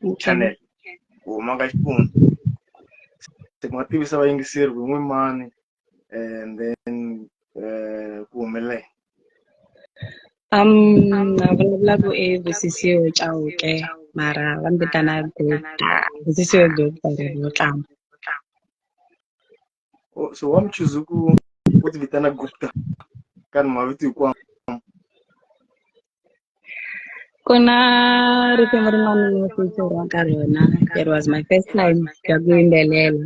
ku channel ku huma ka xifundzha se ku nga tivisa vayingiseri ku n'wi mani and then eh, ku humelele Um, na vulavula ku i Busisiwe Chauke mara va ni vitana Gupta. Busisiwe Gupta ri vo tlanga. O- so why choose ku ku ti vitana gupta ka ni mavito hinkwawo ku na risimu rin'wana ni featuraka ka rona it was my first time ya ku yimbelela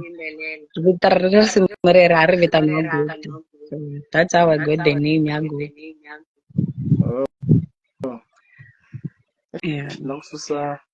vito ra risimu rero a ri vitaniwa gupta so that's how i got the name ya gupta yeah. na ku susa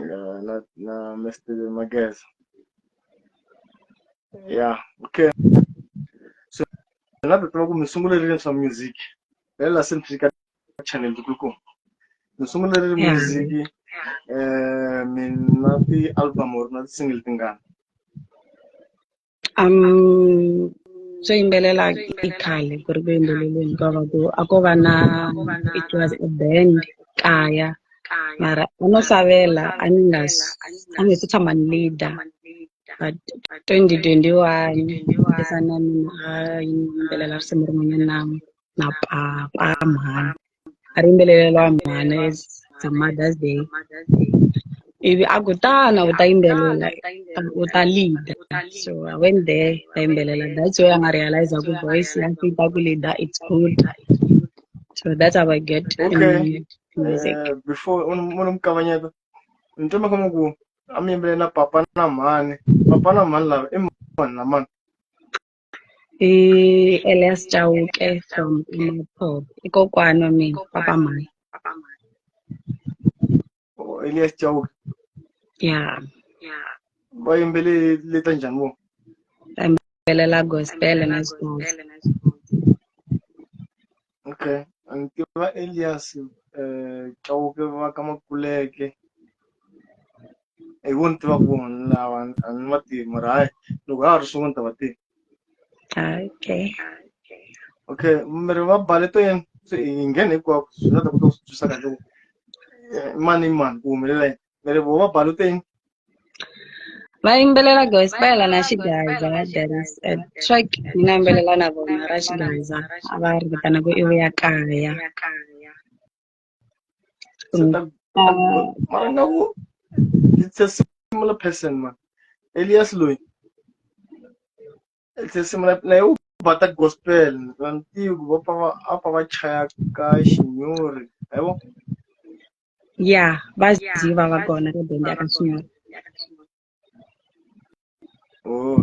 uh, na, na Mr. Mageza. Yeah, okay. So, na tata ku mi sungulerile swa music. Lela se mi fika channel ku mi sungulerile Yeah. music eh mi na ti album or na ti single tingani. Um, byo yimbelela i khale ku ri ku yimbeleleni ka va ku a ko va na it was a band kaya mara a no hlawela a ni nga a ni se tshama ni leader but twenty twenty one i fana na mina a yimbelela risimu rin'wanyana . na papa mhani a ri yimbeleleriwa mhani it's a mother's day ivi a ku tana u ta yimbelela u ta leader so i went there ta yimbelela that's where a nga realiza ku voice ya fita ku leader it's good so that's how i get okay. music uh, before unomkabanyeto nitoma kama ku amyimbelela papa na mhani papa na mhani lava i mani na mani i Elias Chauke from Imapop i kokwana wa mina papa mhani oh, Elias Chauke ya va yimbele leta njhani vo va yimbelela gospel na swin'wana Okay, ni tiva Elias eh Chauke va ka Makuleke. Hi vo ni tivaka vona lava a ni va tivi mara hayi loko ha ha ri swin'we ni ta va tiva. Okay. Okay, mi ri va bale to yini? Se hi nghene hinkwako swi nga ta kota ku swi twisisa kahle ku eh, i mani i mani ku humelela yini. Mary Boma Baluteng. vayimbelela gospel na xigaza there is a track ni nga yimbelela na vona ra xigaza a va ri vitana ku i vuya kaya So ta mara nga ku it's a similar person man. Elias loyi. It's a similar na yo ba ta gospel na ntivo va pfa va a pfa va chaya ka xinyori. Hayibo. ya vaziva vagona ka bende akasungula oh,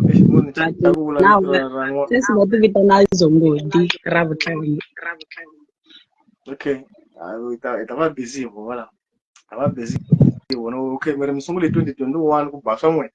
sesi va ti vitana zongodi ra vutlhari okay i ta va busy hi vona a va busy hi vona okay mi ri mi sungule hi 2021 ku ba swa n'wina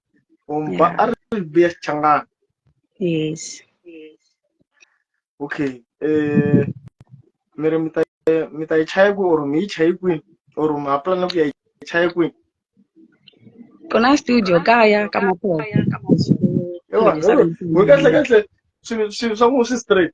Om yeah. ba arbiya changa. Yes. Yes. Okay. Eh mere mita mita ichaya ku or mi ichaya ku or ma plan ku ichaya ku. Kona studio kaya kama kwa. Ewa, ngeke ngeke swi swi swa ku swi straight.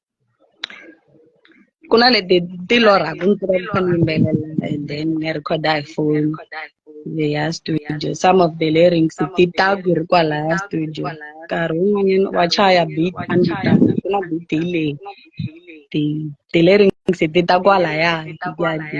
ku na leti ti lorhaku ni tiva kha ni yimbelela and then ni recorda hi phone leya studio some of the lyrics ti ta ku ri kwalaya studio nkarhi wun'wanyana wa chaya beat a ni ta ku na beat hi leyi ti ti lyrics ti ta kwalaya ti ya ti.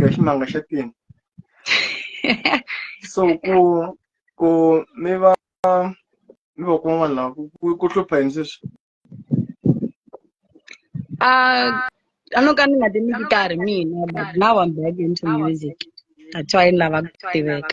ya ximanga xa tini so ku ku mi va mi va kun'wana laha ku ku hlupha yini sweswi Ah, I know ka ni nga ti ni gitari mina but now I'm back into music. That's why ni lava ku tiveka.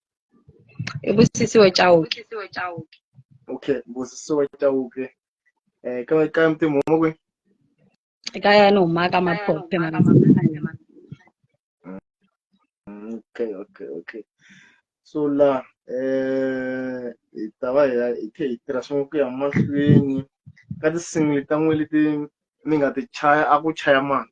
i busisiwe chauke okay busisiwe chauke eh ka ka mtimu mo kwe e ka ya no maka maphophe maka mm, okay okay okay so la eh hi ta va hi hi khe hi tirha swin'we ku ya mahlweni ka tinsimu leti ta n'we leti mi nga ti chaya a ku chaya mani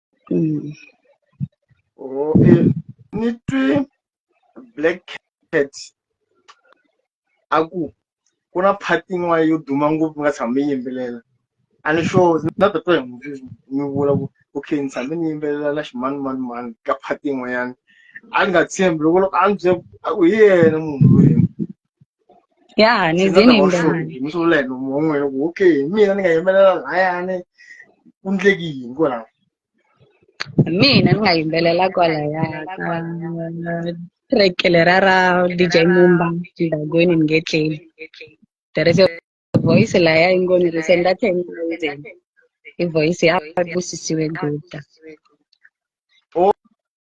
Mm. Oh, eh, ni twi black cat a ku ku na part yin'wana yo duma ngopfu nga tshama mi yimbelela a ni sure na tatwa hi n'wi mi vula ku okay ni tshame ni yimbelela na ximanumanumani ka part yin'wanyana a ni nga tshembi loko loko a ni byela a ku hi yena munhu loyi ya ni Ndzi nga zini ta va ndani hloniphi ni swi vula hi nomu wa n'wina ku okay hi mina ni nga yimbelela lahayani ku ndleki yini kwalaho mina ni nga yimbelela kwalaya ka track lera ra dj mumba ndagweni ni nge tleli there is a voice laya yi ngo ni ri se nda ten thousand i voice ya busisiwe guta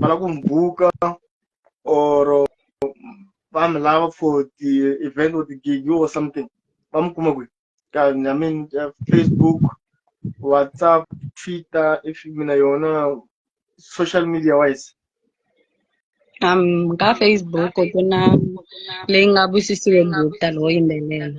va lava ku mi buka or va mi lava for ti-event or ti-gig or something va mi kuma kwihi ka I mean Facebook WhatsApp Twitter if mi na yona social media wise um ka Facebook ku na leyi nga busisiwe group ta lowo yimbelela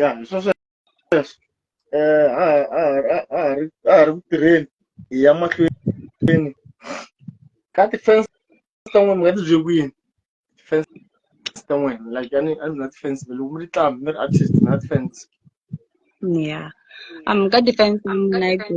ya hi swo sweswo um a a a a ha ri a ha ri ku tirheni hi ya mahlweni ka ti-fence ta n'wina mi nga ti bye kwini ti-fence ta n'wina like a ni a ni na ti-fence loko mi ri tlambi mi ri artist na ti-fence ya um ka defense mina i ku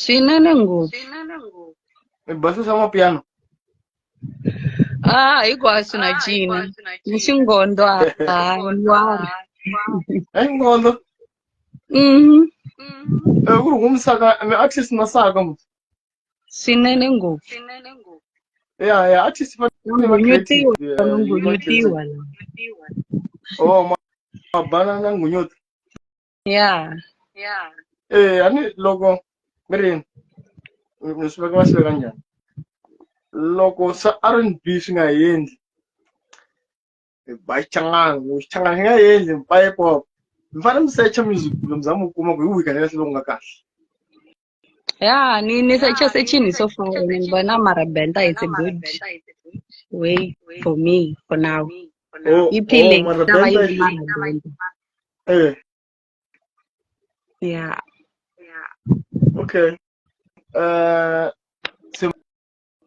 swinene ngopfu swinene ngopfu mi basisa mapiano ah hinkwaswo na cina ni xingondo a a wari hi ngondo Mhm. Eh, ku ri humisaka mi artist na saka mu swinene ngopfu swinene ngopfu ya ya artist va Vanhu va nyutiwa, creative, vanhu eh, yi va nyutiwa la. creative. oh ma- mabanana ngunyuti ya ya eh a ni loko mi ri ni swi veka va swi veka njhani loko se R&B swi nga endli ba xichangani xichangani xi nga endli mi pop mi fanele mi secha music kumbe mi za mi kuma ku hi wihi kahle kahle loku nga kahle Yeah, ni ni such a such in so far. I mean, but now Marabenta is a good way for me for now. Oh, You oh, peeling? Now I Marabenta. use Marabenta. Eh, Yeah. okay. Uh, so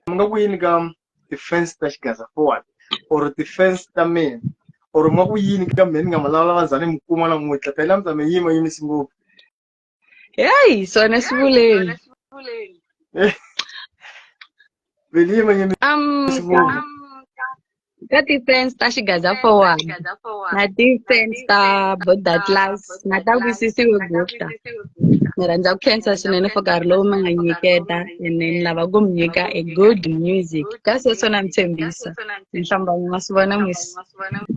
mga win gam defense dash gaza forward or defense da men or mga win gam men nga malala bazane mukuma na mwita pela mzame yima yimi singo Yayi sona sivuleni. Veliye mwenye ni- Um, Sivuli. ka- ka ti-fans ta xigaza forward na ti-fans ta boda class na ta wisisiwe bukta ni rhandza ku khensa swinene for nkarhi lowu mi nga nyiketa ene ni lava ku mi nyika a good music ka sweswo na mi tshembisa ni hlamba mi nga swi vona mis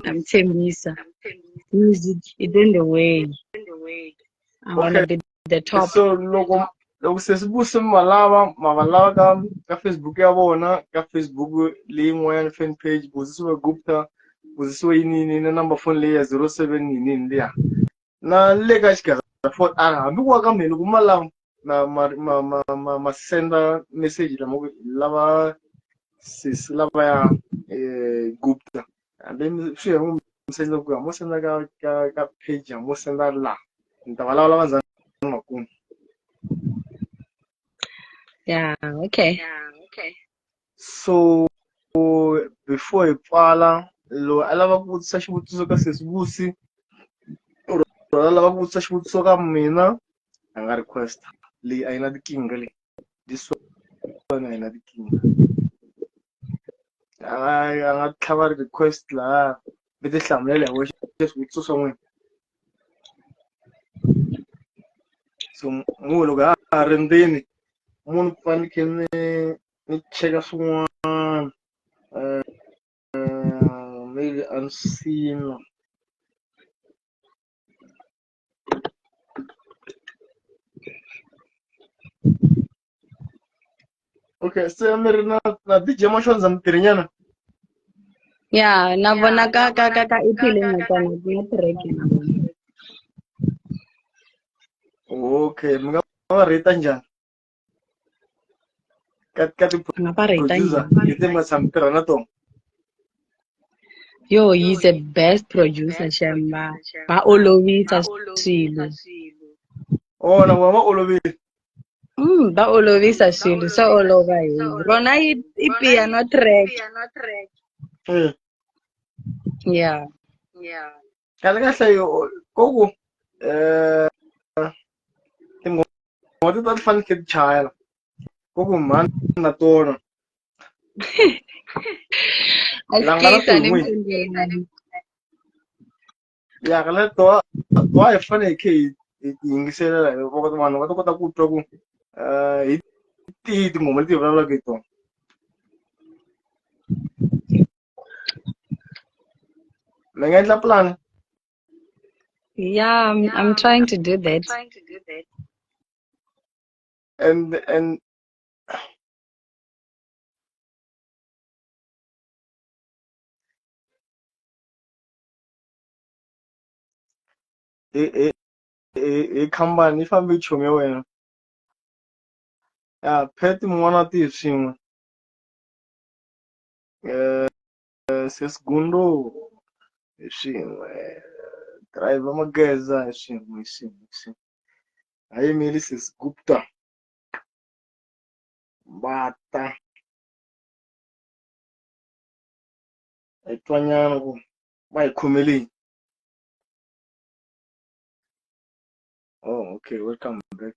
na mi tshembisa music is in the way I want to be the top. So loko loko se swi vuse mi va lava ma va lava ka ka Facebook ya vona ka Facebook leyin'wanyana fan page Buzisiwe Gupta Buzisiwe yinini na number phone leyi ya zero seven yinini liya na le ka xigazafoni a hambi ku wa ka mina loko ma lava na ma ma ma ma, ma senda message lama ku lava sesi lavaya eh, gupta and then swi ya n'wi senda ku ya mo senda ka ka ka page ya mo senda la ni ta va lavulava ndzhaku makumu ya okay so before hi pfala loyi a lava ku vutisa xivutiso ka sesi vusi or a lava ku vutisa xivutiso ka mina a nga request leyi a yi na tikinga leyi this one a yi na tikinga a nga a nga tlhava request laha mi ti hlamulela hi wexe swivutiso swa n'wina so munhu loko ha ha ri ndzeni munhu ku fanekhe ni ni cheka swin'wana um maybe a ni swi siyini na okay se mi ri na na dj mashonza mutirhinyana ya na vona ka ka ka ka iphile na tona ku na track na vona okay mi nga va rheta njhani ka ka ti Nga va rate producer yini? leti mi nga tshami tirha na tona yo he's the best producer shamba va olovisa swilo ona wa va olovile mm, va olovisa swilo swa olova hi rona i i piano track Eh, yeah kahle kahle yo ko ku eh tinghoma ti ta ti fanele ti chayela ko ku mhani na tona langana tin'wi ya ka le to to hi faneke hi hi yingiselela hi voko vanhu va ta kota ku twa ku eh hi tihi tinghoma leti hi vulavulaka hi tona mi nga endla plan yeah i'm, I'm trying to do that and and i i i i khampani yi fambe yi chume wena ya phet mun'wana wa tihi swin'we Eh, eh, se segundo hi swin'we driver mageza hi swin'we hi swin'we hi swin'we a yimeli se gupta va ta hi twanyana ku va hi khomeleni oh okay welcome back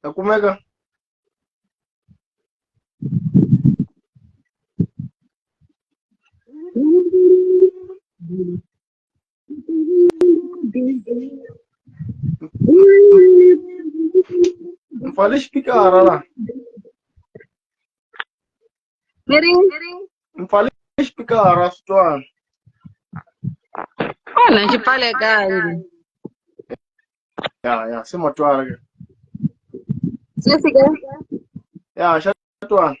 ta kumeka Não fala explicar, lá. miring miring mpfale xipikara swi twani onha xi pfalekangi ya ya se ma twala ke se fika ya xa twani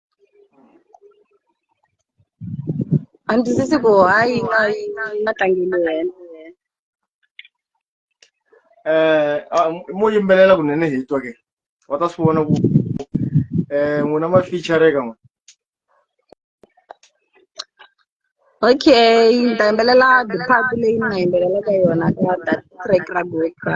a ndzi twisisi ku hayi nga yi nga tlangeli wena eh ah, mo yimbelela kunene hi twa ke wa ta swi vona ku eh n'wina ma feature ka n'we okay ni ta yimbelela the part leyi ni nga yimbelelaka yona ka that track ra goka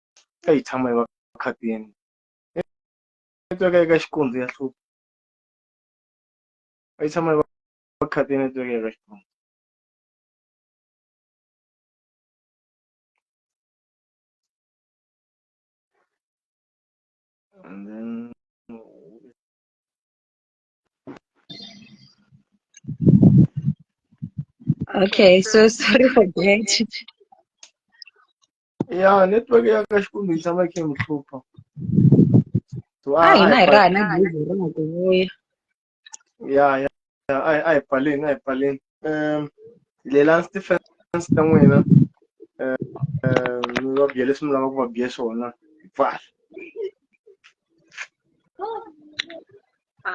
a yi tshama yi va khatini netiweke eka xikondzo ya hlupha a yi tshama yi va khatini netiweke eka xikondzo and then Okay, so sorry for that. ya network ya ka xikwembu yi tshama yi kha yi n'wi hlupha So, a hina hi raha na gezi ra ha ku vuya ya ya ya, a hi- a hi pfaleni a hi pfaleni um lelani stefens ta n'wina um um, mi va biya leswi mi lavaka ku va biya swona hi pfala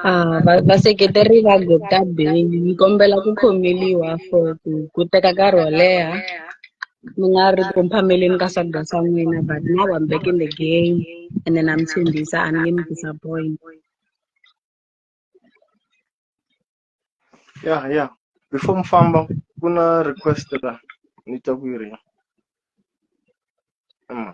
Ah, va- vaseketeri va Gota Bay ni kombela ku khomeliwa for ku ku teka nkarhi wo leha mi nga ri ku mphameleni ka swakudya swa n'wina but now I'm back in the game and then I'm tshembisa a ni nge mi disappoint ya ya before mi famba ku na request la ni twa ku yi ri Mm.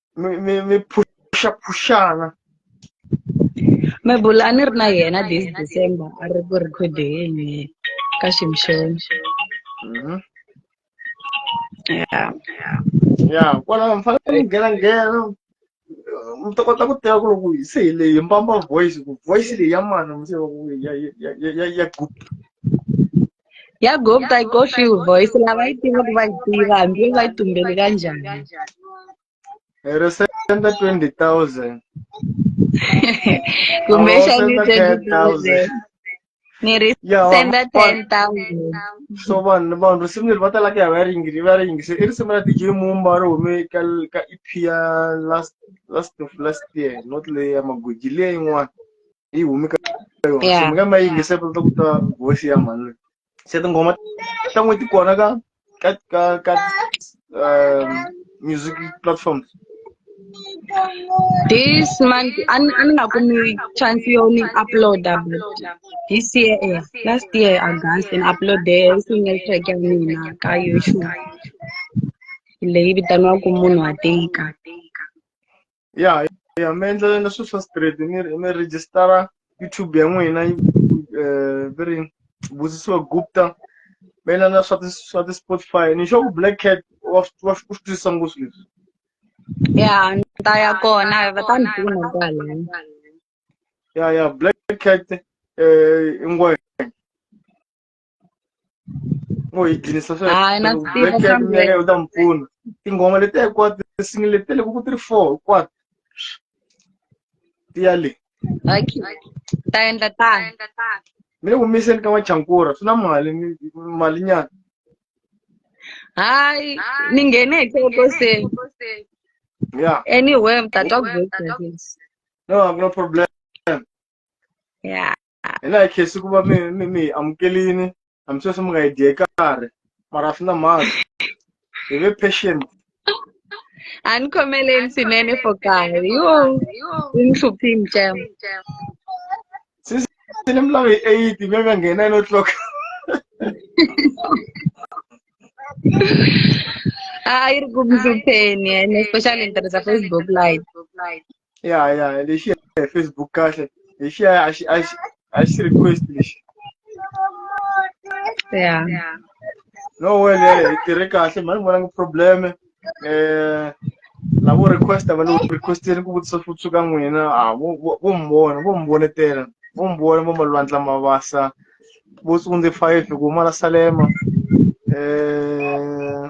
mi mi mi phuxa phuxana mebula a ni ri na yena this december a ri ku rhikhodeni ka ximshoni Mhm. ya ya kwalaho mi fanele mi nghena nghena mi ta kota ku tiva ku loko hi se hi leyi mbamba voice ku voice leyi ya mani mi se va ku ya ya ya ya ya group yagob i go feel voice lavayitiva ku va yi tiva hambi yo va yi tumbele kanjani ero se senda 20000 kumbexani 20000 ni ri senda 10000 so vanhu vanhu risimu leri va talaka ya va ringi va ringise i risimu ra dj mumba ri hume ka ka ep ya last last last year not leyi ya magoji leyi yin'wana yi humi ka yona Yeah. se mi nga ma yingisa ku ta ku ta voice ya mhani loyi se tinghoma ta n'wi ti kona ka ka ka ka um, music platforms This month, an an nga kumi chance yo ni uploada but this year, eh, last year August, and upload there single track ya mina ka YouTube. Leyi vitaniwaka munhu wa tika. ya ya mi endlelela swilo swa straight mi mi register-a YouTube ya n'wina yi eh, va ri Busisiwe Gupta mi endla na swa ti swa ti Spotify ni sure ku Black Cat wa swi- wa swi- u swi twisisa ngopfu leswi ya ni ta ya kona va ta ni pfuna kwala ya ya Black Cat eh i ngwenya ngo yi dlinisa sweswomeka u ta mi pfuna tinghoma leti hinkwato tisingi leti loko ku ti ri four hinkwato ti ya le ta endla tani mi le ku miseni ka machankura swi na mali mali nyana hayi ni nghene hi kokoseni ya anywhere mtatwa ku no a ku na problem ya hi na hi khesi ku va mi mi mi hi amukelini hambi sweswi mi nga hi dye karhi mara swi na mhaka hi ve patient a ni khomeleni swinene for nkarhi yo u ni hluphi mcam sisi ni mi lava hi eight mi nga nghena hi no clock a yi ri ku mi hlupheni and especially ni tirhisa facebook live ya ya lexi hi facebook kahle lexi ya a xi a xi a xi request lexi ya no well ya hi tirhe kahle mani vona ngi problem eh lavo request va lo requesteni ku vutisa swo tshuka n'wina a vo vo- vo mi vona vo mi vonetela vo mi vona vo malwandla mavasa vo tsundze five ku mala salema eh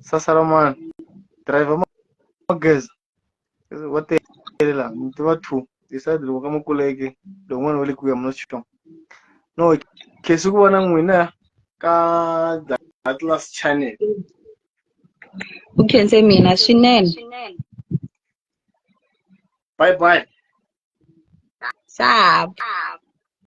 sasa ra mwana driver ma ma geza wa telela mi tiva two decide loko ka ma kuleke loko n'wana wa le kuya mina xitom no khesi ku vona n'wina ka the atlas channel u khense mina swinene bye bye sab